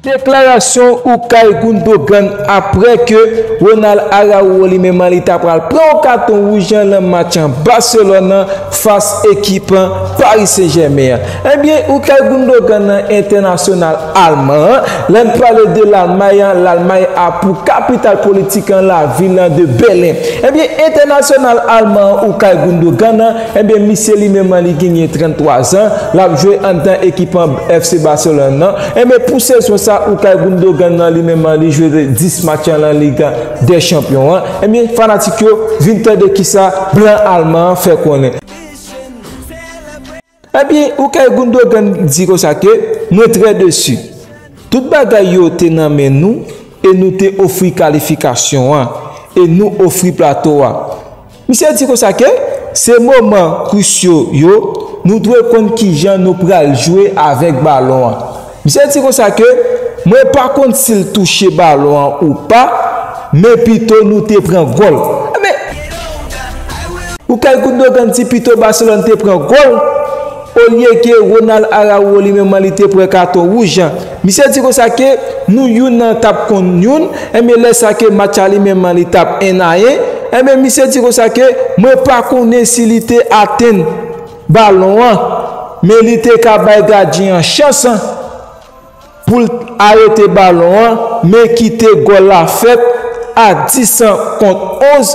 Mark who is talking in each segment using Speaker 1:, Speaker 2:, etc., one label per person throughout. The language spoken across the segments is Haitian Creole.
Speaker 1: Deklarasyon Okay Gundogan apre ke Ronald Araujo li menm an li ta pral pran yon katon wouj lan nan match an Barcelone lan fas ekip Paris Saint Germain an. Ebyen Okay Gundogan an entènasyonal Alman an lè n pale de Lalmay an Lalmay a pou kapital politik an lavil lan de Bèlen. Ebyen entènasyonal Alman an Okay Gundogan an Ebyen misye li menm an li genyen 33 zan, lap jwe anndan ekip an FC Barcelone nan, ebyen pou sezon sa Okay Gundogan nan li menm an li jwe 10 match an lan Liga dè chanpyon an, ebyen fanatik yo vin tande kisa blan alman an fè konnen. Ebyen Okay Gundogan di konsa ke mwen trè desi, tout bagay yo te nan men nou e nou te ofri kalifikasyon an e nou ofri plato a. Misye di konsa ke se moman crucio yo, nou dwe konn kijan nou pral jwe avèk balon an. Misye di konsa ke mwen pa konn si l touche balon an ou pa, men pito nou te pran gòl. Anben! Pou kèk gout Dogan di pito Barcelone te pran gòl. Olye ke Ronald Araujo li menm an li te pran katon wouj jan misye di konsa ke nou youn an tap konn youn, enben lè sa ke match a li menm an li tap 1 a 1, enben misye di konsa ke mwen pa konnen si li te atenn balon an, men li te ka bay gadyen an chans pou l arete balon an, men kite gòl la fèt a 10 an kont 11.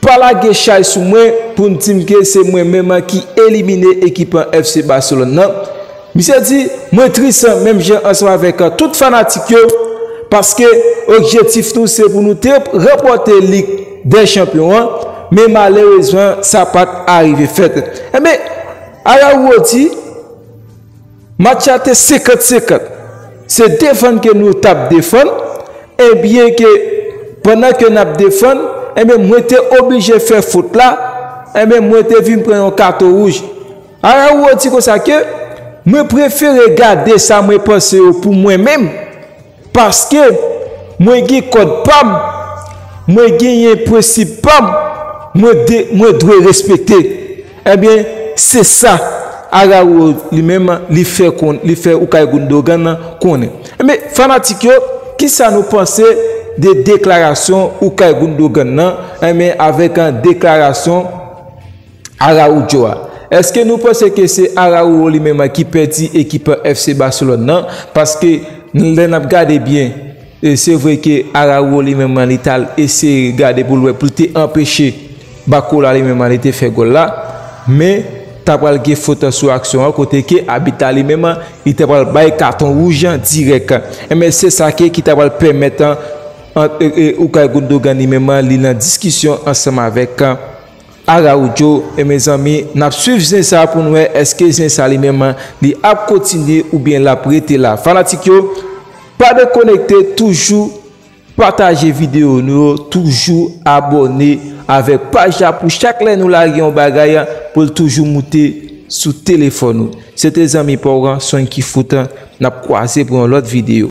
Speaker 1: Pa lage chay sou mwen pou n di m ke se mwen menm ki elimine ekip FC Barcelone nan. Misye di, Mwen tris menm jan ansanm avèk tout fanatik yo paske objektif nou se pou nou te ranpòte Lig dè Chanpyon an, men malerezman sa pat arive fèt. Enben, Araujo di. Match la te 50 50 se defann ke nou tap defann ebyen ke pandan ke nap defann ebyen mwen te oblije fè fot la ebyen mwen te vin pran yon katon wouj Araújo di konsa ke mwen prefere gade sa mwen panse yo pou mwen menm. Paske, mwen gen kòd pa m, mwen genyen prensip pa m, mwen de, mwen dwe respekte. Ebyen, se sa, Araújo li menm, li fè kon, li fè Okay Gundogan konnen. Ebyen, fanatik yo, kisa nou panse de deklarasyon Okay Gundogan nan, ebyen, avèk deklarasyon. Araujo a. Eske nou panse ke se Araujo li menm ki pèdi ekip FC Barcelone nan? Paske lè nap gade byen, se vre ke Araujo li menm li t al eseye gade pou l wè pou l te anpeche Barcola li menm li te fè gòl la, men ta pral gen fot sou aksyon an kote ke abit la li menm li ta pral bay katon wouj dirèk. Enben se sa ke ki ta pral pèmèt Okay Gundogan li menm li nan diskisyon ansanm avèk Araujo e mezanmi nap swiv zen sa poun wè eske zen sa li menm li ap kotinye oubyen lap rete la fanatik yo pa dekonekte toujou pataje video nou yo toujou abòne avèk paj la pou chak lè nou lage yon bagay poul toujou moute sou telefòn ou se te zanmi paw Sonikyfoot nap kwaze pou yon lòt video.